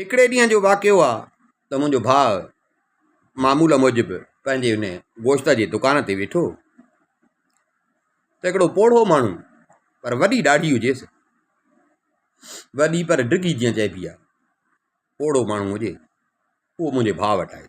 هڪڙي ڏينهن جو واقعو آ ته منهنجو ڀاء معمول موجب پنهنجي ان گوشت جي دڪان تي ويٺو ته هڪڙو پوڙهو ماڻهو پر وڏي ڏاڙهي هجيس وڏي پر ڊگهي جيئن چئبي آ پوڙهو ماڻهو هجي اهو منهنجي ڀاء وٽ آيو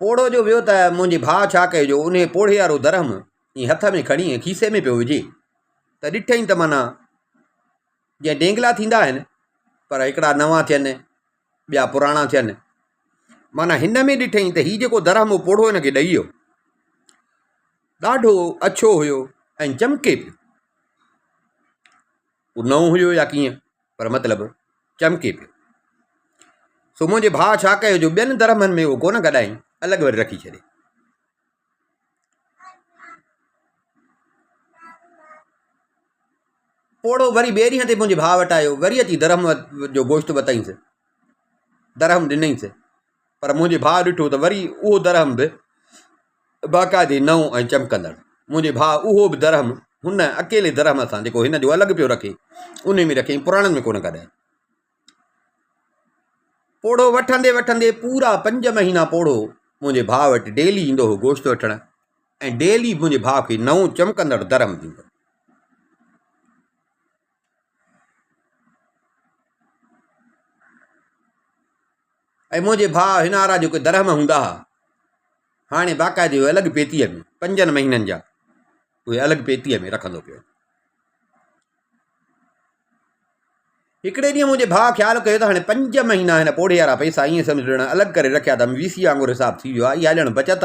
پوڙهو جو ويو ته منهنجي ڀاء ڇا ڪيو جو انهيء پوڙهي وارو درهم ائين هٿ ۾ کڻي ائين کيسي ۾ پيو وجهي ته ڏٺئين ته معنيٰ جيئن ڊينگلا ٿيندا آهن پر هڪڙا نوان ٿيئن ٻيا پراڻا ٿيئن معنيٰ هن ۾ ڏٺئين ته هي جيڪو درهم هو پوڙهو هن کي ڏئي ويو ڏاڍو اڇو هيو ۽ چمڪي پيو هو نئون هيو يا ڪيئن پر مطلب چمڪي پيو. سومو جي ڀاء ڇا ڪيو جو ٻين درهمن ۾ اهو ڪونه گڏائين الڳ وري رکي ڇڏي. پوڙهو وري ٻئي ڏينهن تي منهنجي ڀاء وٽ آيو وري اچي درهم جو گوشت وتائينس درهم ڏنائينس پر منهنجي ڀاء ڏٺو ته وري اهو درهم به باقاعدي نئون ۽ چمڪندڙ. منهنجي ڀاء اهو به درهم هن اڪيلي درهم سان جيڪو هن جو الڳ پيو رکي انهي ۾ رکيائين پراڻن ۾ ڪونه ڪڍيائين. پوڙهو وٺندي وٺندي پورا پنج مهينا پوڙهو منهنجي ڀاء وٽ ڊيلي ايندو هو گوشت وٺڻ ۽ ڊيلي منهنجي ڀاء کي نئون چمڪندڙ درهم ڏيندو هو. اي منهنجي ڀاء هن آرا جيڪي درهم هوندا ها هاڻي باقاعدي اهي الڳ پيتيء ۾ پنجن مهينن جا اهي الڳ پيتيء ۾ رکندو پيو هڪڙي ڏينهن منهنجي ڀاء خيال ڪيو ته هاڻي پنج مهينا هن پوڙهي وارا پئسا ائين سمجھ ڏيڻ الڳ ڪري رکيا ته وي سي وانگر حساب ٿي ويو آهي اها ڄڻ بچت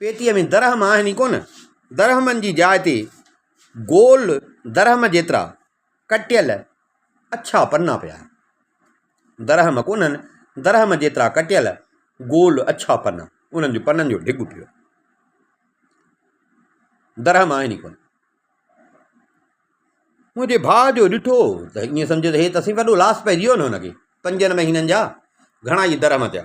پيتيء ۾ درهم آهن ئي ڪونه. درهمن جي جاء تي گول درهم جيترا ڪٽيل اڇا پنا پيا آهن. درهم ڪونهن، درهم جيترا ڪٽيل گول اڇا پنا. انهن جي پنن جو ڍڳ پيو آهي. درهم آهن ئي ڪونه. منهنجي ڀاء جو ڏٺو ته ائين سمجهيو ته هي ته سائين وڏو لاس پئجي ويو نه هن کي. پنجن مهينن جا گهڻا ئي درهم ٿيا.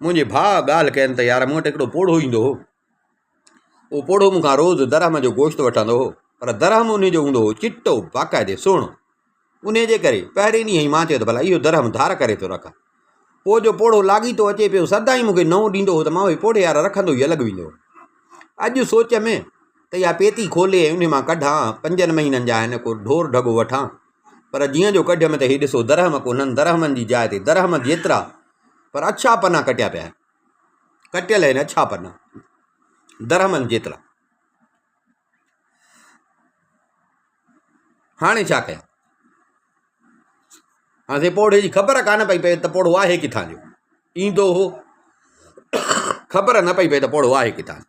منهنجي ڀاء ڳالهه ڪين ته يار مون وٽ هڪڙو پوڙهو ايندو هو اهو پوڙهو مون کان روز درهم جو گوشت وٺندو هو پر درهم ان جو هوندو هو چٽو باقاعدي سهڻو ان جي ڪري پهرين ڏينهن ئي مان چيو ته ڀلا اهو درهم ڌار ڪري ٿو رکان پوء جو پوڙهو لاڳيتو اچي پيو سدا ئي مون کي نئون ڏيندو هو ته مان اهي پوڙهي يار رکندو ئي الڳ ويندو اڄ سوچ ۾ ته اها پيتي کولي ۽ ان مان ڪڍان پنجن مهينن جا آهن ڪو ڍور ڍڳو وٺان پر جيئن جو ڪڍيم ته هي ڏسو درهم ڪونهن، درهمن جي جاء تي درهم جيترا پر اڇا پنا ڪٽيا پيا آهن. ڪٽيل آهن اڇا پنا، درهمن جيترا. هاڻي ڇا ڪيان؟ هاڻي سائين پوڙهي جي خبر ڪانه پئي پئي ته پوڙهو آهي ڪٿان جو؟ ايندو هو، خبر نه پئي پئي ته پوڙهو آهي ڪٿان جو؟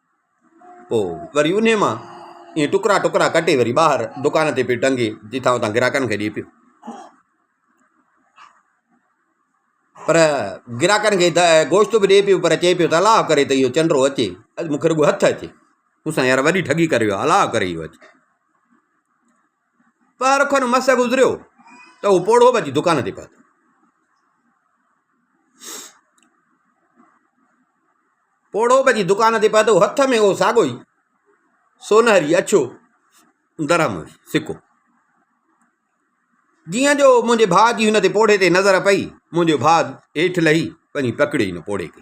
پوء وري انهيء مان ائين ٽڪرا ٽڪرا ڪٽي وري ٻاهر دڪان تي پيو ٽنگي جتان اتان گراهڪن کي ڏئي پيو پر گراهڪن کي گوشت به ڏئي پيو پر چئي پيو ته الاء ڪري ته اهو چنڊو اچي اڄ مون کي رڳو هٿ اچي مون سان يار وڏي ٺڳي ڪري ويو الاء ڪري اهو اچي پهر کن مس گذريو ته هو پوڙهو به اچي دڪان تي پهتو. پوڙهو به اچي دڪان تي پهتو هٿ ۾ اهو ساڳو ئي سونهري اڇو درهم سڪو جيئن جو منهنجي ڀاء جي هن تي پوڙهي تي نظر پئي منهنجو ڀاء هيٺ لهي وڃي پڪڙي هن پوڙهي کي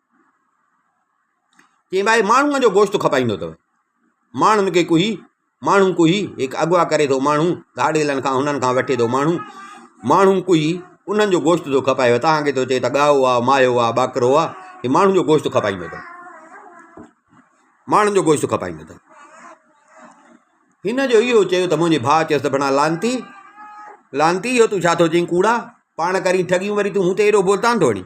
چيائين ڀائي ماڻهوء جو گوشت کپائيندو اٿئو ماڻهن کي ڪوهي ماڻهو ڪوهي هڪ اغوا ڪري ٿو ماڻهو ڌاڙيلن کان هنن کان وٺي ٿو ماڻهو ماڻهو ڪوهي انهن جو گوشت ٿو کپائيو تهانکي ٿو چئي ته ڳائو آ ماهيو آ ٻاڪرو آ هي ماڻهن جو گوشت کپائيندو اٿئو ماڻهن جو گوشت کپائيندو اٿئو هن جو اهو چيو ته منهنجي ڀاء چيس ته بنا لانتي لانتي اهو تون ڇا ٿو چئين ڪوڙا پاڻ ڪرين ٺڳيون وري تون هوتي ايڏو بولتان ٿو هڻين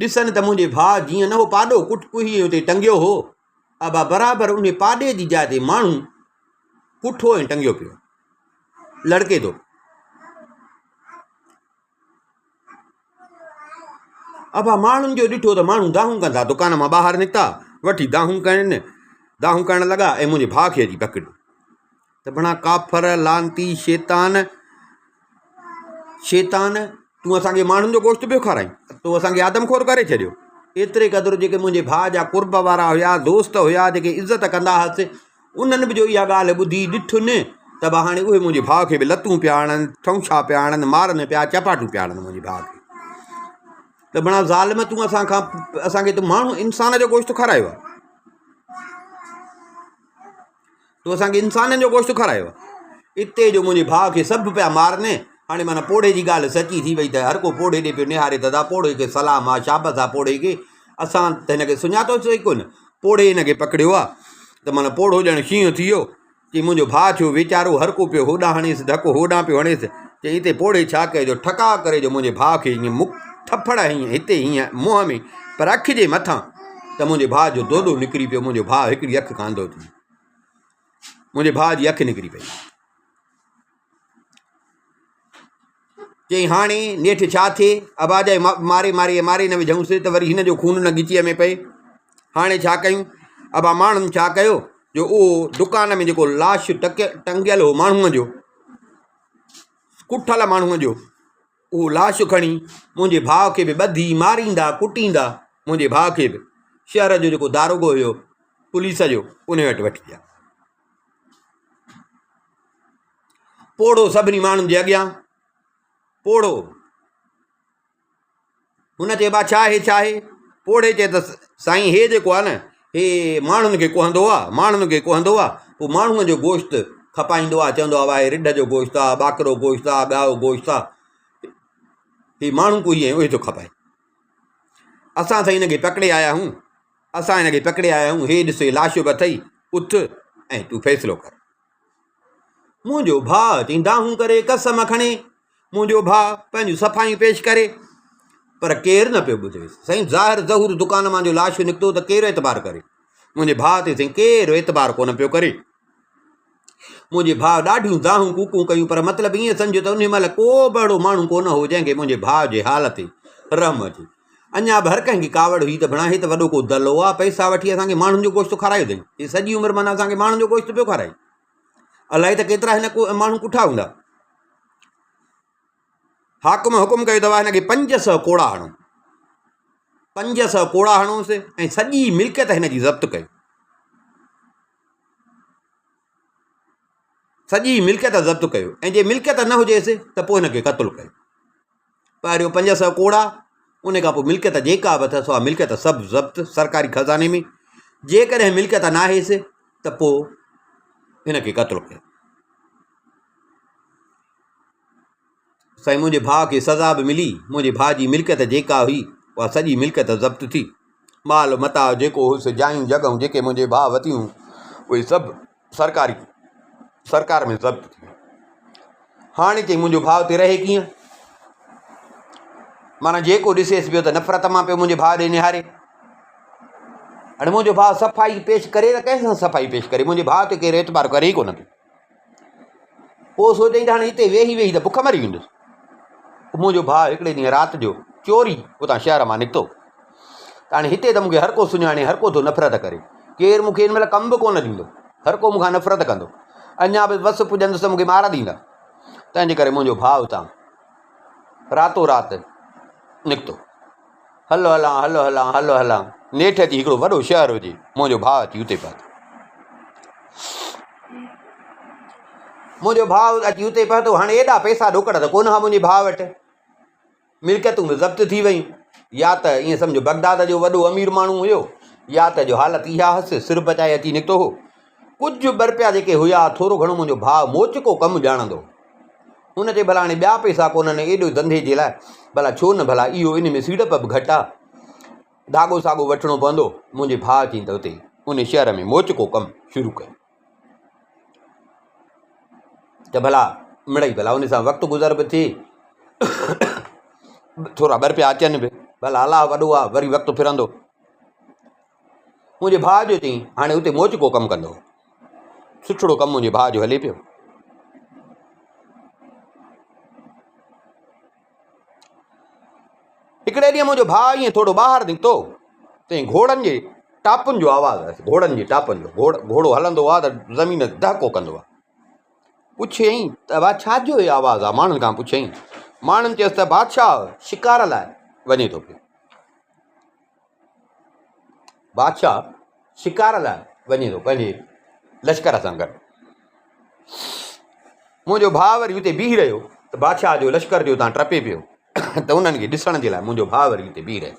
ڏسن ته منهنجي ڀاء جيئن نه هو پاڏو ڪٽ ڪوهيء اتي ٽنگيو هو، ابا برابر انهي پاڏي جي جاء تي ماڻهو ڪٺو ۽ ٽنگيو پيو لڙڪي ٿو. ابا ماڻهن جو ڏٺو ته ماڻهو دانهون ڪن ٿا، دڪان مان ٻاهر نڪتا، وٺي دانهون ڪن، دانهون ڪرڻ لڳا ۽ منهنجي ڀاء کي اچي پڪڙيو. سڀنان ڪافر، لعنتي، شيطان، شيطان، تون اسان کي ماڻهن جو گوشت پيو کارائين، تو اسان کي آدم خور ڪري ڇڏيو. ايتري قدر جيڪي منهنجي ڀاء جا قرب وارا هيا، دوست هيا، جيڪي عزت ڪندا هئس، انهن به جو اها ڳالهه ٻڌي، ڏٺن ته به هاڻي اهي منهنجي ڀاء کي به لتون پيا هڻن، ٺونشا پيا هڻن، مارن پيا، چپاٽون پيا هڻن منهنجي ڀاء کي. سڀنان ظالم، تون اسان کان اسان کي ته ماڻهو، انسان، جو گوشت کارايو آهي. تو اسان کي انسانن جو گوشت کارايو آهي. اتي جو منهنجي ڀاء کي سڀ پيا مارن. هاڻي معنيٰ پوڙهي جي ڳالهه سچي ٿي وئي ته هر ڪو پوڙهي ڏي پيو نهاري ته ادا پوڙهي کي سلام آ، شابس آ پوڙهي کي. اسان ته هن کي سڃاتوس ئي ڪونه. پوڙهي هن کي پڪڙيو آ ته معنيٰ پوڙهو ڄڻ شينهن ٿي ويو. چئي منهنجو ڀاء ٿيو ويچارو، هر ڪو پيو هوڏانهن هڻيس، ڌڪ هوڏانهن پيو هڻيس. چئي اتي پوڙهي ڇا ڪيو جو ٺڪاء ڪري جو منهنجي ڀاء کي هيئن مڪ ٿڦڙ هنئين هتي هيئن منهن ۾ پر اک جي مٿان ته منهنجي ڀاء جو دودو نڪري پيو، منهنجو ڀاء هڪڙي اک کان انڌو ٿي ويو. منهنجي ڀاء جي اک نڪري پئي. چيائين هاڻي نيٺ ڇا ٿئي ابا جي ماري ماري ماري نه وجهونس ته وري هن جو خون نه ڳچيء ۾ پئي هاڻي ڇا ڪيون ابا ماڻهن ڇا ڪيو جو اهو دڪان ۾ جيڪو لاش ٽنگيل هو ماڻهوء جو ڪٺل ماڻهوء جو اهو لاش کڻي منهنجي ڀاء کي به ٻڌي ماريندا ڪٽيندا منهنجي ڀاء کي به شهر جو جيڪو داروغو هيو پوليس جو ان وٽ وٺي ويا پوڙهو سڀني ماڻهن جي اڳيان پوڙهو هن چيو با ڇا هي ڇا هي؟ پوڙهي چيتس سائين هي جيڪو آهي نه هي ماڻهن کي ڪهندو آهي ماڻهن کي ڪهندو آهي پوء ماڻهن جو گوشت کپائيندو آهي چوندو آهي واهي رڍ جو گوشت آهي ٻاڪرو گوشت آهي ٻيائو گوشت آهي هي ماڻهو ڪوهي آهي اهي ٿو کپائي اسان سائين هن کي پڪڙي آيا آهيون اسان هن کي پڪڙي آيا آهيون هي ڏسي لاشو به اٿئي اٿ ۽ تون فيصلو ڪر منهنجو ڀاء تي دانهون ڪري قسم کڻي، منهنجو ڀاء پنهنجون صفايون پيش ڪري، پر ڪير نه پيو ٻڌي. سائين ظاهر ظهور دڪان مان جو لاشو نڪتو ته ڪير اعتبار ڪري. منهنجي ڀاء تي سائين ڪير اعتبار ڪونه پيو ڪري. منهنجي ڀاء ڏاڍيون دانهون ڪوڪون ڪيون پر مطلب ائين سمجهه ته انهي مهل ڪو به اهڙو ماڻهو ڪونه هو جنهن کي منهنجي ڀاء جي حال تي رحم اچي. اڃا به هر ڪنهن کي ڪاوڙ هئي ته بڻا هي ته وڏو ڪو دلو آ، پئسا وٺي اسان کي ماڻهن جو گوشت کارايو اٿئي. هي سڄي عمر معنيٰ اسان کي ماڻهن جو گوشت پيو کارائي. الائي ته ڪيترا هن ماڻهو ڪٺا هوندا. حاڪم حڪم ڪيو ته واهه هن کي پنج سؤ ڪوڙا هڻو. پنج سؤ ڪوڙا هڻوس ۽ سڄي ملڪيت هن جي ضبط ڪيو. سڄي ملڪيت ضبط ڪيو ۽ جي ملڪيت نه هجيس ته پوء هن کي قتل ڪيو پهريو پنج سؤ ڪوڙا ان کان پوء ملڪيت جيڪا به اٿس اها ملڪيت سڀ ضبط سرڪاري خزاني ۾ جيڪڏهن ملڪيت نه آهيس ته پوء هن کي قتل ڪيو سائين منهنجي ڀاء کي سزا به ملي، منهنجي ڀاء جي ملڪيت جيڪا هئي اها سڄي ملڪيت ضبط ٿي، مال متاع جيڪو هيس، جايون جڳهون جيڪي منهنجي ڀاء وتيون هيون اهي سڀ سرڪاري سرڪار ۾ ضبط ٿي ويون، هاڻي چئي منهنجو ڀاء اتي رهي ڪيئن؟ معنيٰ جيڪو ڏسيس پيو ته نفرت مان پيو منهنجي ڀاء ڏي نهاري، هاڻي منهنجو ڀاء صفائي پيش ڪري ته ڪنهن سان صفائي پيش ڪري منهنجي ڀاء تي ڪير اعتبار ڪري ئي ڪونه پيو. پوء سوچيائين ته هاڻي هتي ويهي ويهي ته بک مري ويندس. منهنجو ڀاء هڪڙي ڏينهن رات جو چوري اتان شهر مان نڪتو ته هاڻي هتي ته مون کي هر ڪو سڃاڻي، هر ڪو ٿو نفرت ڪري. ڪير مون کي هن مهل ڪم به ڪونه ڏيندو. هر ڪو مون کان نفرت ڪندو. اڃا به وس پڄندس ته مون کي مار ڏيندا. تنهنجي ڪري منهنجو ڀاء اتان راتو رات نڪتو. هلو هلان، هلو هلان، هلو هلان. نيٺ جي هڪڙو وڏو شهر هجي. منهنجو ڀاء اچي اتي پهتو. منهنجو ڀاء اچي اتي پهتو. هاڻي ايڏا پئسا ڏوڪڙا ته ڪونه ها منهنجي ڀاء وٽ. ملڪيتون به ضبط ٿي ويون. يا ته ائين سمجهه بغداد جو وڏو امير ماڻهو هيو يا ته جو حالت اها هيس سر بچائي اچي نڪتو هو. ڪجهه برپيا جيڪي هيا، ٿورو گهڻو منهنجو ڀاء موچڪو ڪم ڄاڻندو هو. ان چي ڀلا هاڻي ٻيا پئسا ڪونهن، ايڏو ڌنڌي جي لاء ڀلا ڇو نه ڀلا اهو ان ۾ سيڙپ به گهٽ آ، ڌاڳو ساڳو وٺڻو پوندو. منهنجي ڀاء چين ته اتي ان شهر ۾ موچڪو ڪم شروع ڪيو ته ڀلا مڙئي ڀلا ان سان وقت گذر به ٿئي ٿورا برپيا اچن به، ڀلا الله وڏو آ وري وقت ڦرندو. منهنجي ڀاء جو چئين، هاڻي اتي موچ ڪو ڪم ڪندو. سٺڙو ڪم منهنجي ڀاء جو هلي پيو. هڪڙي ڏينهن منهنجو ڀاء ائين ٿورو ٻاهر نڪتو تائين گهوڙن جي ٽاپن جو آواز آيس. گهوڙن جي ٽاپن جو. گهوڙو هلندو آ ته زمين دهڪو ڪندو آ. پڇيائين ته ڀاء ڇا جو هي آواز آ؟ ماڻهن کان پڇيائين. ماڻهن چيس ته بادشاهه شڪار لاء وڃي ٿو پيو. بادشاهه شڪار لاء وڃي ٿو پنهنجي لشڪر سان گڏ منهنجو ڀاء وري اتي بيهي رهيو ته بادشاهه جو لشڪر جو تان ٽپي پيو ته انهن کي ڏسڻ جي لاء منهنجو ڀاء وري اتي بيهي رهيو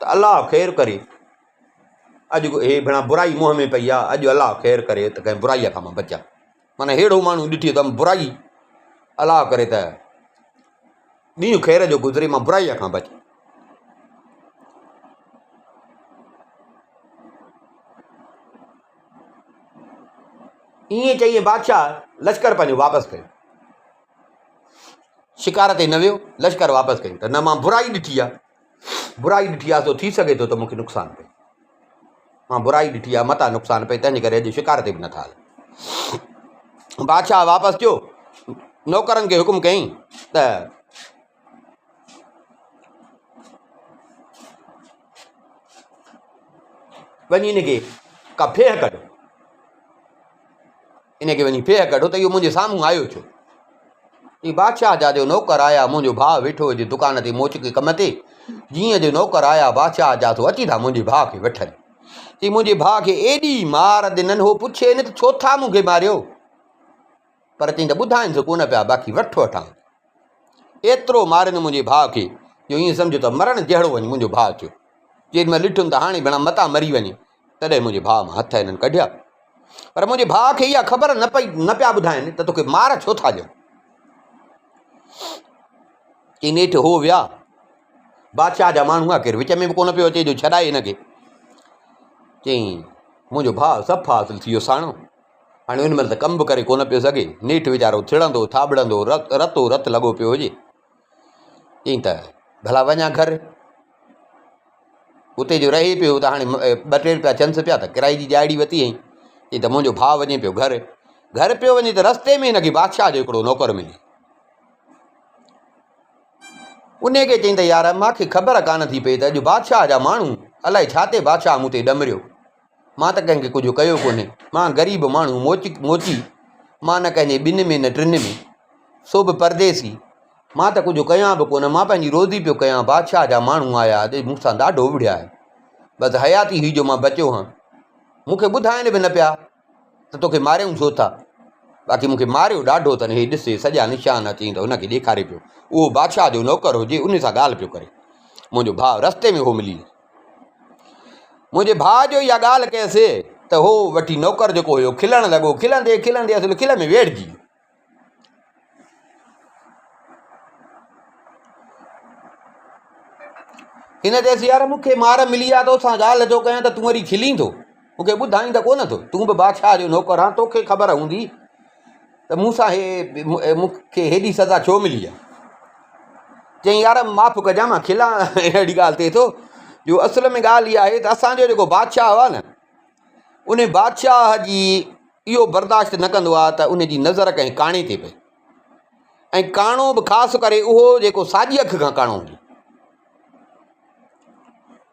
ته الله خير ڪري، اڄ هي ڀيڻا برائي منهن ۾ پئي آ، اڄ الله خير ڪري ته ڪنهن برائيء کان مان بچان. معنيٰ ههڙو ماڻهو ڏٺي ته ام برائي، الله ڪري ته ڏينهن خير جو گذري مان برائيء کان بچان. ائين چئي بادشاهه لشڪر پنهنجو واپس ڪيو. شڪار تي نه ويو، لشڪر واپس ڪيو ته نه مان برائي ڏٺي آ، برائي ڏٺي آهي سو ٿي سگهي ٿو ته مون کي نقصان پئي. مان برائي ڏٺي آهي متان نقصان پئي تنهنجي ڪري اڄ شڪار تي به نٿا هلون. بادشاهه واپس ٿيو نوڪرن کي حڪم ڪيائين ته وڃي هن کي ڪا ڦيهه ڪڍ. ان کي وڃي ڦيهه ڪڍو ته اهو منهنجي سامهون آيو ڇو؟ چيائين، بادشاهه جا جو نوڪر آيا، منهنجو ڀاء ويٺو هجي دڪان تي موچڪي ڪم تي، جيئن جو نوڪر آيا بادشاهه جا سو اچي ٿا منهنجي ڀاء کي وٺن. چيائين، منهنجي ڀاء کي ايڏي مار ڏنن، هو پڇي نه ته ڇو ٿا مون کي ماريو؟ پر چيائين ته ٻڌائينس ڪونه پيا، باقي وٺ وٺان ٿي. ايترو مارين منهنجي ڀاء کي، جو ائين سمجهه ته مرڻ جهڙو وڃ منهنجو ڀاء اچيو. جيڏي مهل ڏٺم ته هاڻي ڀيڻا متان مري وڃي، تڏهن منهنجي ڀاء مان هٿ هنن ڪڍيا. پر منهنجي ڀاء کي اها خبر نه پئي نه پيا ٻڌائين ته توکي مار ڇو ٿا ڏين. چئي نيٺ هو ويا. بادشاهه جا ماڻهو هئا ڪير وچ ۾ به ڪونه پيو اچي جو ڇڏائي هن کي. چئي منهنجو ڀاء صفا اصل ٿي ويو ساڻو. هاڻي ان مهل ته ڪم به ڪري ڪونه پيو سگهي. نيٺ ويچارو ٿڙندو ٿاٻڙندو رتو رت لڳو پيو هجي. چيائين ته ڀلا وڃ هان گهر. اتي جو رهي پيو ته هاڻي ٻه ٽي روپيا چئنس پيا ته ڪرائي جي ڏهاڙي وتي هئي. چيائين ته منهنجو ڀاء وڃي پيو گهر. گهر پيو وڃي ته رستي ۾ هن کي بادشاهه جو هڪڙو نوڪر ملي. ان کي چيائين ته يار مان کي خبر ڪانه ٿي پئي ته اڄ بادشاهه جا ماڻهو الائي ڇا تي بادشاهه مون تي ڏمريو. مان ته ڪنهن کي ڪجهه ڪيو ڪونهي، مان غريب ماڻهو موچي، مان نه ڪنهن جي ٻن ۾ نه ٽن ۾، سو به پرديسي، مان ته ڪجهه ڪيان به ڪونه، مان پنهنجي روزي پيو ڪيان، بادشاهه جا ماڻهو آيا ۽ مون سان ڏاڍو وڙهيا ۽ بس حياتي هئي جو مان بچيو هان، مون کي ٻڌائين به نه پيا ته توکي ماريون ڇو ٿا، باقي مون کي ماريو ڏاڍو اٿن، هي ڏس هي سڄا نشان آهن، چيائين ته هن کي ڏيکاري پيو، اهو بادشاهه جو نوڪر هو جي ان سان ڳالهه پيو ڪري، منهنجو ڀاء رستي ۾ هو ملي ويس. منهنجي ڀاء جو اها ڳالهه ڪيسي ته هو وٺي نوڪر جيڪو هيو کلڻ لڳو کلندي کلندي اصل کل ۾ ويڙهجي ويو هن چيس يار مون کي مار ملي آ تو سان ڳالهه جو ڪيان ته تون وري کلين ٿو مون کي ٻڌائين ته ڪونه ٿو تون به بادشاهه جو نوڪر آن توکي خبر هوندي ته مون سان مون کي هيڏي سزا ڇو ملي آهي؟ چيائين يار معاف ڪجان مان کلان اهڙي ڳالهه تي ٿو جو اصل ۾ ڳالهه اها آهي ته اسانجو جيڪو بادشاهه هو نه ان بادشاهه جي اهو برداشت نه ڪندو آهي ته ان جي نظر ڪنهن ڪاڻي تي پئي ۽ ڪاڻو به خاص ڪري اهو جيڪو ساڄي اک کان ڪاڻو هجي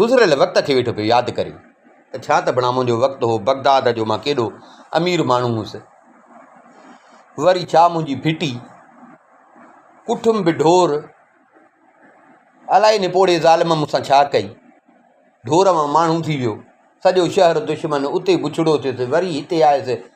گذريل وقت کي ويٺو پيو ياد ڪري ته ڇا ته بڻامون جو وقت هو بغداد جو مان ڪيڏو امير ماڻهو هوس وري ڇا منهنجي ڦٽي ڪٺم به ڍور الائي ان پوڙهي ظالم مون سان ڇا ڪئي ڍور مان ماڻهو ٿي ويو سڄو شهر دشمن اتي بڇڙو ٿيس وري هتي آيس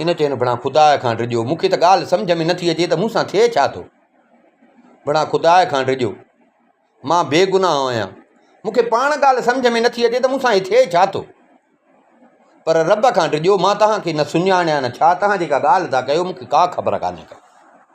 هن چيو، بڻا خدا کان ڊڄو، مون کي ته ڳالهه سمجهه ۾ نٿي اچي ته مون سان ٿئي ڇا ٿو؟ بڻا خدا کان ڊڄو، مان بيگناهه آهيان، مون کي پاڻ ڳالهه سمجهه ۾ نٿي اچي ته مون سان هي ٿئي ڇا ٿو؟ پر رب کان ڊڄو، مان توهان کي نه سڃاڻيان، ڇا توهان جيڪا ڳالهه ٿا ڪيو، مون کي ڪا خبر ڪانهي ڪا.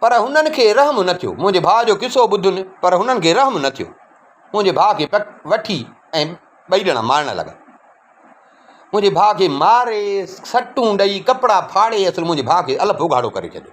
پر هنن کي رحم نه ٿيو. منهنجي ڀاء جو قصو ٻڌن پر هنن کي رحم نه ٿيو. منهنجي ڀاء کي وٺي ۽ ٻئي ڄڻا مارڻ لڳا. منهنجي ڀاء کي ماري، سٽون ڏئي، ڪپڙا ڦاڙي اصل منهنجي ڀاء کي الف اگهاڙو ڪري ڇڏيو.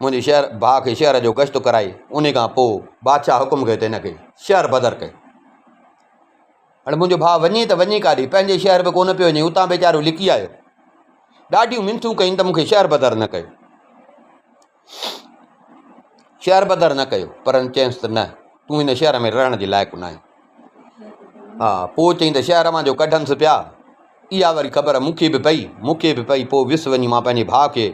منهنجي شهر باهه کي شهر جو گشت ڪرائي انهي کان پوء بادشاهه حڪم ڪيو ته هن کي شهر بدر ڪيو. هاڻي منهنجو ڀاء وڃي ته وڃي ڪاڏي؟ پنهنجي شهر به ڪونه پيو وڃي، اتان ويچارو لڪي آيو. ڏاڍيون منٿون ڪيائين ته مون کي شهر بدر نه ڪيو. شهر بدر نه ڪيو پر چيس ته نه تون هن شهر ۾ رهڻ جي لائق نه آهين. ها پوء چيائين ته شهر مان جو ڪڍنس پيا اها وري خبر مون کي به پئي، مون کي به پئي پوء ويس وڃي مان پنهنجي ڀاء کي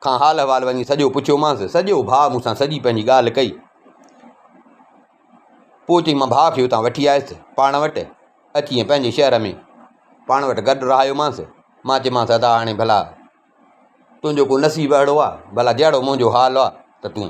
کان حال احوال وڃي سڄو پڇيومانس. سڄو ڀاء مون سان سڄي پنهنجي ڳالهه ڪئي. پوء چيائين مان ڀاء کي اتان وٺي آيس پاڻ وٽ اچي ۽ پنهنجي شهر ۾ پاڻ وٽ گڏ رهايومانس. مان چيومانس ادا هاڻي ڀلا تنهنجو ڪو نصيب اهڙو آ ڀلا جهڙو منهنجو حال آ ته تون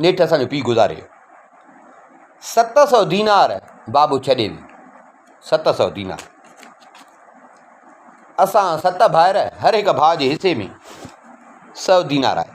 نيٺ اسان جو پيء گذاري ويو. ست سؤ دينار بابو ڇڏي ويو. ست سؤ دينار. اسان ست ڀائر هر هڪ ڀاء جي حصي ۾ سؤ دينار آيا.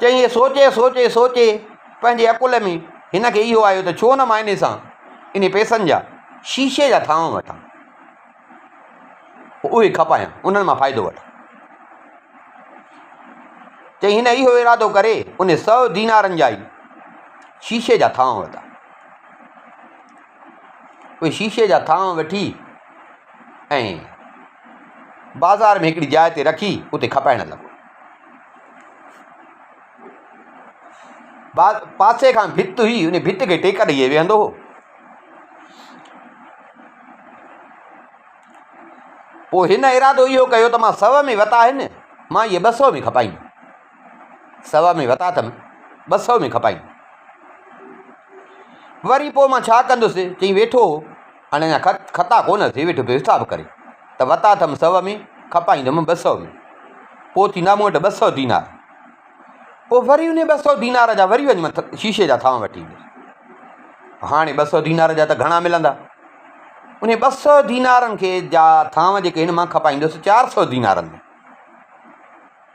چيائين هي سوچي سوچي سوچي پنهنجي عقل ۾ هن کي اهو آيو ته ڇو نه مان ان سان ان پيسن جا شيشي جا ٿانو وٺان پوء اهي کپايان انهن مان فائدو وٺان چيائين هن اهو ارادو ڪري ان سؤ دينارن جا ئي شيشي جا ٿانو ورتا اهي شيشي جا ٿانء وٺي ۽ بازار ۾ هڪڙي جاء تي رکي اتي کپائڻ لڳو. پاسي کان ڀت هئي، ان ڀت کي ٽيڪ ڏيئي ويهندو هو. پوء هن ارادو اهو ڪيو ته مان سو ۾ وتاهين، مان اهي ٻه سو ۾ کپائين. سوا ۾ وتا اٿم، ٻه سؤ ۾ کپائين. وري پوء مان ڇا ڪندس؟ چئي ويٺو هو. هاڻي اڃا خط خطا ڪونه اٿئي، ويٺو پيو حساب ڪري ته وتا اٿم سؤ ۾، کپائيندم ٻه سؤ ۾. پوء ٿيندا مون وٽ ٻه سؤ دينار. پوء وري انهي ٻه سؤ دينار جا وري وڃ شيشي جا ٿانء وٺي ايندس. هاڻي ٻه سؤ دينار جا ته گهڻا ملندا. انهي ٻه سؤ دينارن کي جا ٿانء جيڪي هن مان کپائيندس چار سؤ دينارن ۾.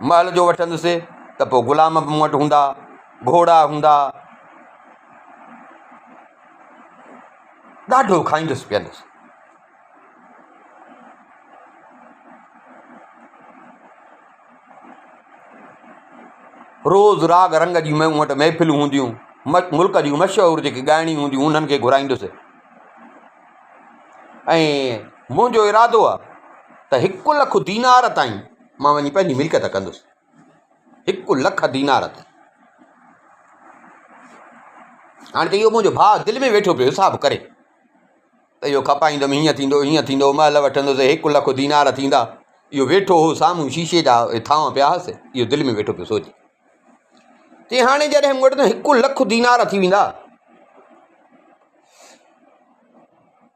محل جو وٺندس ته پوء غلام به مون وٽ هوندا، گهوڙا هوندا، ڏاڍو کائيندس پيئندس. روز راڳ رنگ جي مون وٽ محفلون هونديون، ملڪ جون مشهور جيڪي ڳائڻيون هونديون انهن کي گهرائيندس ۽ منهنجو ارادو آهي ته هڪ لک دينار تائين مان وڃي پنهنجي ملڪيت ڪندس. هڪ لک دينار تائين. هاڻي ته اهو منهنجو ڀاء دل ۾ ويٺو پيو حساب ڪري ته اهو کپائيندم هيئن ٿيندو هيئن ٿيندو مهل وٺندس هڪ لک دينار ٿيندا اهو ويٺو هو سامهون شيشي جا ٿانء پيا هئس اهو دل ۾ ويٺو پيو سوچي چي هاڻي جڏهن مون وٽ هڪ لک دينار ٿي ويندا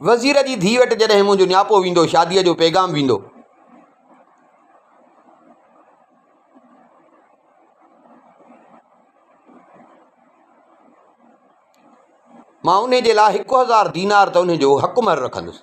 وزير جي ڌيء وٽ جڏهن منهنجو نياپو ويندو، شاديء جو پيغام ويندو. مان انهيء جي لاء هڪ هزار دينار ته انهيء جو حق مهر رکندس.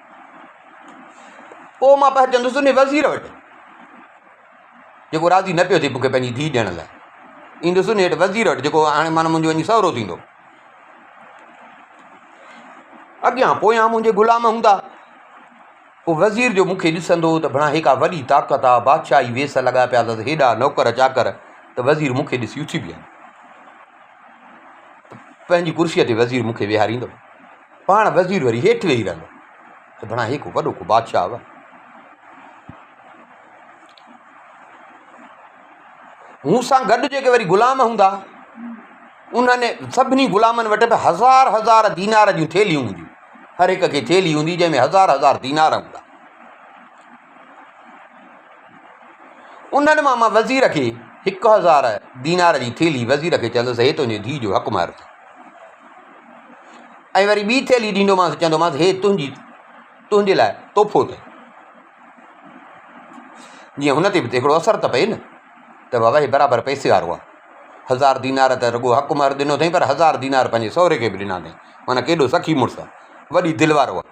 پوء مان پهچندس ان وزير وٽ، جيڪو راضي نه پيو ٿئي مون کي پنهنجي ڌيء ڏيڻ لاء. ايندس ان هيٺ وزير وٽ، جيڪو هاڻي معنيٰ منهنجو وڃي سهرو ٿيندو. اڳيان پويان منهنجي غلام هوندا. پوء وزير جو مون کي ڏسندو ته بڻا هي ڪا وڏي طاقت آ، بادشاهي ويس لڳاء پيا اٿس، هيڏا نوڪر چاڪر ته وزير مون کي ڏسي اٿي بيهن. پنهنجي ڪرسيء تي وزير مون کي ويهاريندو. پاڻ وزير وري هيٺ ويهي رهندو ته بڻا هي ڪو وڏو ڪو بادشاهه هو. هن سان گڏ جيڪي وري غلام هوندا، انهن سڀني غلامن وٽ به هزار هزار دينار جون ٿيلهيون هونديون. هر هڪ کي ٿيلهي هوندي جنهن ۾ هزار هزار دينار هوندا. انهن مان مان وزير کي هڪ هزار دينار جي ٿيلهي وزير کي چوندس هي تنهنجي ڌيء جو حق مهر اٿئي ۽ وري ٻي ٿيلهي ڏيندومانس چوندومانس هي تنهنجي تنهنجي لاء تحفو اٿئي جيئن هن تي به هڪڙو اثر ته پئي نه ته بابا هي برابر پئسي وارو آهي هزار دينار ته رڳو حق مهر ڏنو اٿئي پر هزار دينار پنهنجي سهري کي به ڏنا اٿئي معنيٰ ڪيڏو سخي مڙس آهي وڏي دل وارو آهي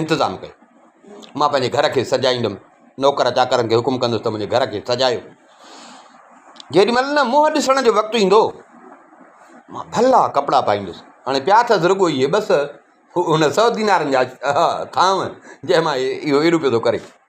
انتظام ڪيو. مان پنهنجي گهر کي سجائيندم. نوڪر چاڪرن کي حڪم ڪندس ته منهنجي گهر کي سجايو. جيڏي مهل نه منهن ڏسڻ جو وقت ايندو، مان ڀلا ڪپڙا پائيندس. هاڻي پيا اٿس رڳو اهي ٻه سئو، هن سئو دينارن جا ٿانو، جنهن مان اهو ايڏو پيو ٿو ڪري.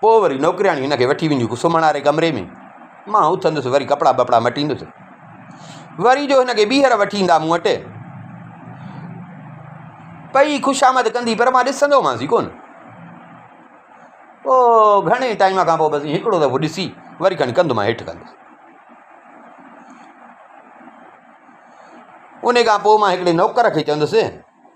پوء وري نوڪرياڻي هن کي وٺي وينديون سمهڻ واري ڪمري ۾ مان اٿندس وري ڪپڙا ٻپڙا مٽيندس وري جو هن کي ٻيهر وٺي ايندا مون وٽ پئي خوشامد ڪندي پر مان ڏسندومانس ڪون پوء گهڻي ٽائيم کان پوء بس هڪڙو دفعو ڏسي وري کڻي ڪنڌ مان هيٺ ڪندس ان کان پوء مان هڪڙي نوڪر کي چوندس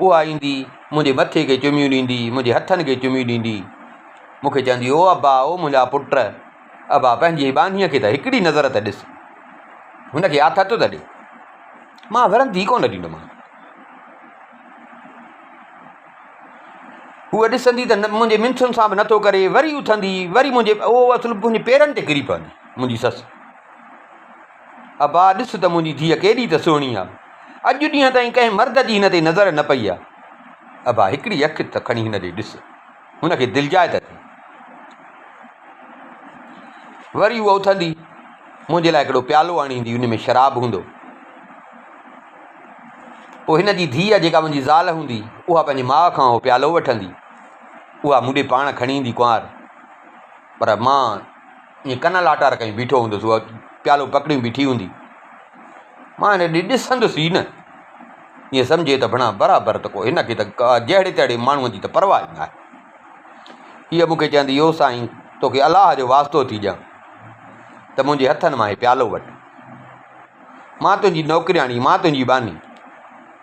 اها ايندي منهنجي مٿي کي چميون ڏيندي، منهنجي هٿن کي چميون ڏيندي مون کي چوندي او ابا، او منهنجا پٽ، ابا پنهنجي ٻانهيء کي ته هڪڙي نظر ته ڏس، هن کي آٿت ته ڏي. مان ورندي ئي ڪونه ڏيندومانس. هوء ڏسندي ته منهنجي منٿن سان به نه ٿو ڪري، وري اٿندي، وري منهنجي، او اصل منهنجي پيرن تي ڪري پوندي منهنجي سس. ابا ڏس ته منهنجي ڌيء ڪيڏي ته سهڻي آ. اڄ ڏينهن تائين ڪنهن مرد جي هن تي نظر نه پئي آ. ابا هڪڙي اک ته کڻي هن ڏي ڏس. هن کي دلجاء ته ٿي. وري هوء اٿندي منهنجي لاء هڪڙو پيالو آڻي ايندي ان ۾ شراب هوندو. پوء هن جي ڌيء جيڪا منهنجي زال هوندي اها پنهنجي ماء کان اهو پيالو وٺندي. اها مون ڏي پاڻ کڻي ايندي ڪنوار. پر مان ائين ڪن لاٽار ڪئي بيٺو هوندس، اها پيالو پڪڙي بيٺي هوندي. مان هن ڏي ڏسندس ئي نه. ائين سمجهي ته ڀڻا برابر ته ڪو هن کي ته ڪا جهڙي تهڙي ماڻهوء جي ته پرواهه ئي ناهي. هيء مون کي چوندي يو سائين توکي الله جو واسطو ٿي ڏيان ته منهنجي هٿن مان هي پيالو وٺ. مان تنهنجي نوڪرياڻي، مان تنهنجي ٻانهي.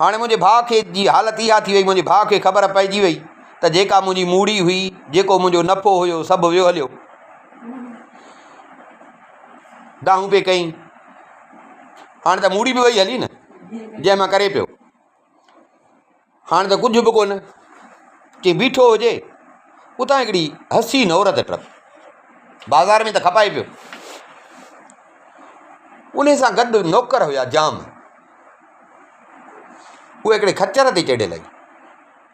هاڻي منهنجي ڀاء کي جي حالت اها ٿي وئي، منهنجي ڀاء کي خبر پئجي وئي ته جيڪا منهنجي موڙي هئي، جيڪو منهنجو نفعو هيو، سڀ ويو هليو. دانهون پئي ڪئين، هاڻي ته موڙي به وئي هلي نه، جنهن مان ڪري پيو. هاڻ ته ڪجهه به ڪونه، ڪي بيٺو هجي، اتان هڪڙي حسين عورت ٽپ بازار ۾ ته کپائي پيو. انهي سان گڏ نوڪر هيا جام، اهي هڪڙي خچر تي چڙهيل هئي.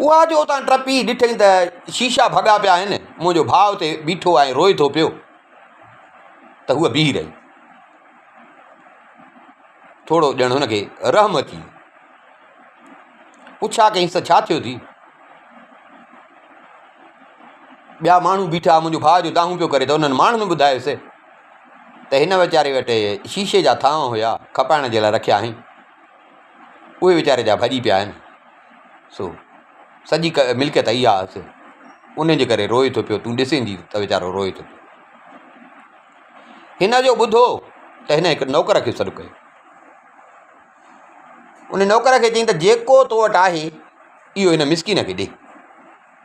اها جو اتان ٽپي ڏٺئي ته شيشا ڀڳا پيا آهن، منهنجو ڀاء اتي بيٺو آهي روئي ٿو پيو ته هوء بيهي رهي. ٿورو ڄڻ هن کي رحم اچي ويو. پڇا ڪيس ته ڇا ٿيو ٿي؟ ٻيا ماڻهو بيٺا منهنجو ڀاء جو دانهون پيو ڪري ته انهن ماڻهن ٻڌايس ته هن ويچاري وٽ شيشي جا ٿانء هيا کپائڻ جي لاء رکيا هئائين اهي ويچاري جا ڀڄي پيا آهن سو سڄي ملڪيت اهي آهس ان جي ڪري روئي ٿو پيو تون ڏسندي ته ويچارو روئي ٿو پيو هن جو ٻڌو ته هن هڪ نوڪر کي سڏ ڪيو ان نوڪر کي چيائين ته جيڪو تو وٽ آهي اهو هن مسڪين کي ڏي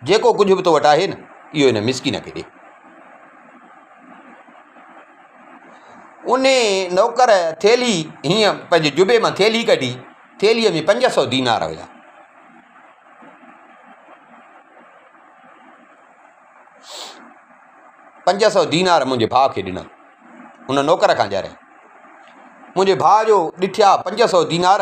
جيڪو ڪجهه به تو وٽ آهي نه، اهو هن مسڪين کي ڏي. انهيء نوڪر ٿيلهي، هينئن پنهنجي جبي مان ٿيلهي ڪڍي، ٿيلهيء ۾ پنج سؤ دينار هيا. پنج سؤ دينار منهنجي ڀاء کي ڏنا. ان نوڪر کان ڄاريائين. منهنجي ڀاء جو ڏٺيا پنج سؤ دينار.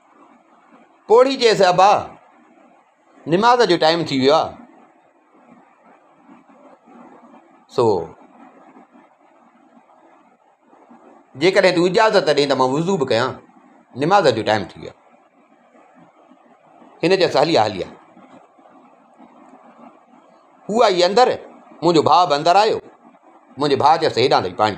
پوڙهي چيس ابا نماز جو ٽائيم ٿي ويو آهي سو جيڪڏهن تون اجازت ڏي ته مان وضو به ڪيان نماز جو ٽائيم ٿي ويو هن چيس هلي آ هلي آ هو آئي اندر منهنجو ڀاء به اندر آيو منهنجي ڀاء چيس هيڏانهن اچ پاڻي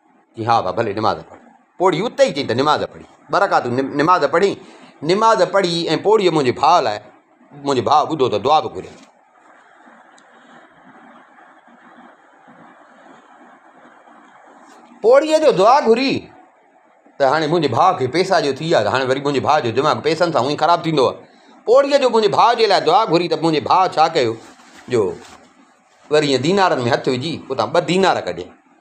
چيائين، ها ها ڀلي نماز پڙهه. پوڙهي اتي ئي چيائين ته نماز پڙهي ٻه رڪعتون نماز پڙهين. نماز پڙهي ۽ پوڙهي منهنجي ڀاء لاء منهنجو ڀاء ٻڌو ته دعا به گهري. پوڙهي جو دعا گهري ته هاڻي منهنجي ڀاء کي پئسا جو ٿي ويا ته هاڻي وري منهنجي ڀاء جو دماغ پئسن سان هونئن خراب ٿيندو آهي. پوڙهي جو منهنجي ڀاء جي لاء دعا گهري ته منهنجي ڀاء ڇا ڪيو جو وري ائين دينارن ۾ هٿ وجهي اتان ٻه دينار ڪڍيائين.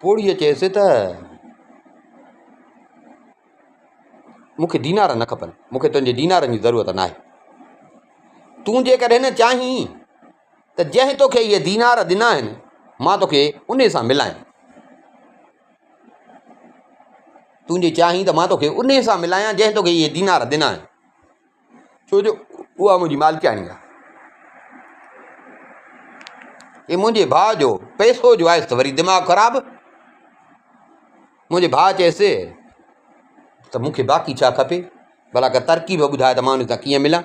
پوڙهيء چيس ته، مون کي دينار نه کپن، مون کي تنهنجي دينارن جي ضرورت ناهي. تون جيڪڏهن چاهين ته جنهن توکي اهي دينار ڏنا آهن، مان توکي انهي سان ملايان. تون جي چاهين ته مان توکي انهي سان ملايان جنهن توکي اهي دينار ڏنا آهن. ڇو جو اها منهنجي مالڪياڻي آهي. هي منهنجي ڀاء جو پئسو جو آيس ته وري دماغ خراب منهنجي ڀاء چيس ته مون کي باقي ڇا کپي ڀلا ڪا ترڪيب ٻڌاء ته مان ان سان ڪيئن ملان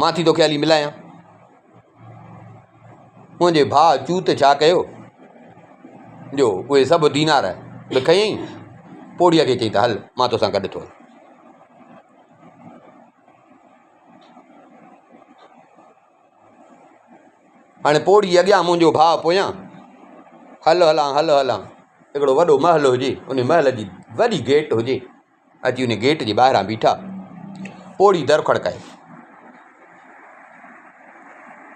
مان ٿي توکي هلي ملايان. منهنجي ڀاء چوت ڇا ڪيو جو اهي سڀ دينار به کنيائين پوڙهيء کي چيائين ته هل مان توسان گڏ ٿو هلان. هاڻي پوڙهي اڳيان منهنجو ڀاء پويان هل هلان هل هلان هڪڙو وڏو محل هجي ان محل جي وڏي گيٽ هجي اچي ان گيٽ جي ٻاهران بيٺا. پوڙهي در کڙڪايو.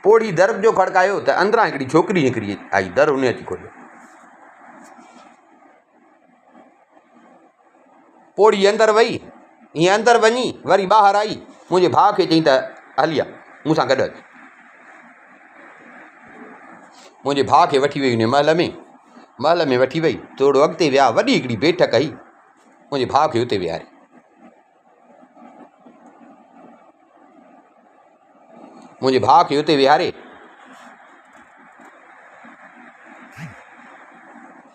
پوڙهي در جو کڙڪايو ته اندران هڪڙي ڇوڪري نڪري آئي. در هن اچي کوليو. پوڙهي اندر وئي. هيء اندر وڃي وري ٻاهر آئي. منهنجي ڀاء کي چيائين ته هلي آ، مون سان گڏ اچ. منهنجي ڀاء کي وٺي وئي انهيء محل ۾. محل ۾ وٺي وئي. ٿورو اڳتي ويا. وڏي هڪڙي بيٺڪ هئي. منهنجي ڀاء کي اتي ويهاري. منهنجي ڀاء کي اتي ويهاري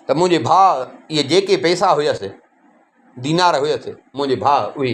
ته منهنجي ڀاء اهي جيڪي پئسا هيس، دينار هيس، منهنجي ڀاء اهي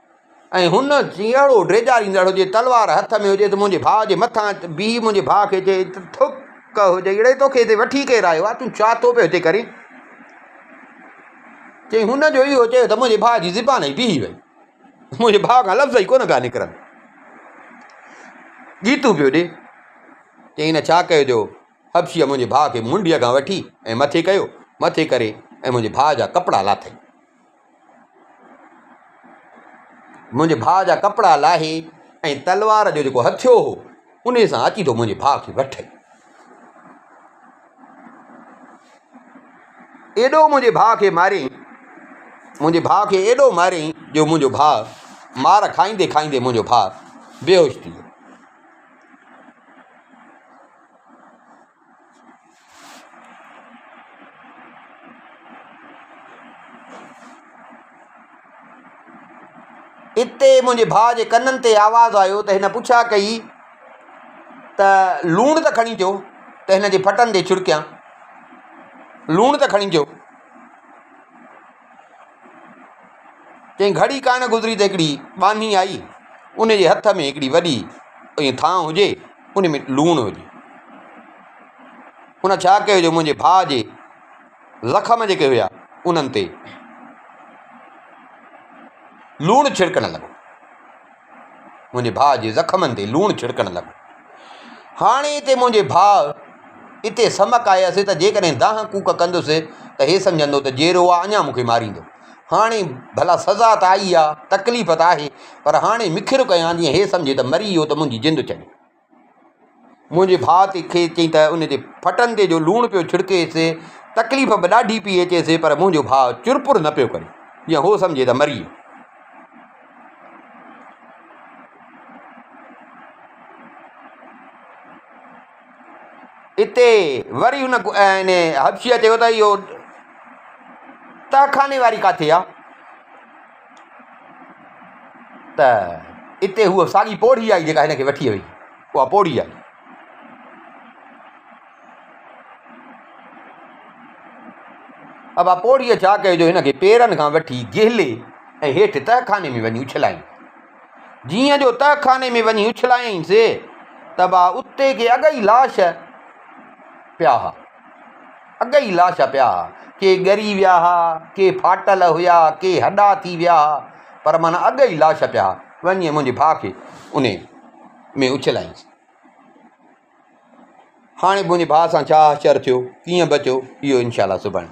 ۽ هن جي اهڙو ڊيڄاريندڙ هجي، تلوار هٿ ۾ هجي ته منهنجي ڀاء جي مٿان بيهي منهنجي ڀاء کي چئي ته ٿڪ هجئي اڙي توکي هتي وٺي ڪير آيو آهي، تون ڇا ٿو پيو هتي ڪرين؟ چئي هن جو اهو چيو ته منهنجي ڀاء جي زبان ئي بيهي وئي، منهنجي ڀاء کان لفظ ئي ڪونه پيا نڪرن، ڳيتون پيو ڏي. چئي هن ڇا ڪيو جو حبشيء منهنجي ڀاء کي منڊيء کان وٺي ۽ مٿي ڪيو، مٿي ڪري ۽ منهنجي ڀاء جا ڪپڙا لاٿئي. منهنجي ڀاء جا ڪپڙا لاهي ۽ تلوار جو جيڪو هٿيو هو انهي سان اچي ٿو منهنجي ڀاء کي وٺي. ايڏو منهنجي ڀاء کي ماريائين منهنجي ڀاء کي ايڏو ماريائين جو منهنجو ڀاء مار کائيندي کائيندي منهنجو ڀاء بيهوش ٿي ويو. اتي منهنجي ڀاء جي ڪنن تي آواز آيو ته هن پڇا ڪئي ته لوڻ ته کڻي اچو ته هن جي ڦٽن تي ڇڙڪيان لوڻ ته کڻي اچو چيائين، گهڙي ڪا نه گذري ته هڪڙي ٻانهي آئي، ان جي هٿ ۾ هڪڙي وڏي ائين ٿانء هجي، ان ۾ لوڻ هجي. ان ڇا ڪيو جو منهنجي ڀاء جي زخم جيڪي هيا، انهن تي لوڻ ڇڙڪڻ لڳو. منهنجي ڀاء جي زخمن تي لوڻ ڇڙڪڻ لڳو. هاڻي هتي منهنجي ڀاء اتي سمڪ آهي اسي ته جيڪڏهن دانهن ڪوڪ ڪندس ته هي سمجهندو ته جيئرو آ اڃا مون کي ماريندو. هاڻي ڀلا سزا ته آئي آ، تڪليف ته آهي، پر هاڻي مکر ڪيان جيئن هي سمجهي ته مري ويو ته منهنجي جند ڇڏي. منهنجي ڀاء تي کيس چيائين ته ان تي ڦٽن تي جو لوڻ پيو ڇڙڪيس، تڪليف به ڏاڍي پيئي اچيس، پر منهنجو ڀاء چرپر نه پيو ڪري، جيئن هو سمجهي ته مري ويو. اتي وري ان حبشيء چيو ته اهو تهخاني واري ڪاٿي آ؟ ته اتي هوء ساڳي پوڙهي آئي جيڪا هن کي وٺي وئي. اها پوڙهي آئي. ابا پوڙهيء ڇا ڪيو جو هن کي پيرن کان وٺي جهلي ۽ هيٺ تهخاني ۾ وڃي اڇلايائين. جيئن جو تهخاني ۾ وڃي اڇلايائين سي ته ابا اتي ڪي اڳ ئي لاش پيا ها. اڳ ئي لاش پيا ها، ڪي ڳري ويا ها، ڪي ڦاٽل هيا، ڪي هڏا ٿي ويا ها، پر مان اڳ ئي لاش پيا ها، وڃي ۽ منهنجي ڀاء کي انهي ۾ اڇلائينس. هاڻي منهنجي ڀاء سان ڇا حشر ٿيو، ڪيئن بچيو، اهو انشاء الله سڀاڻي.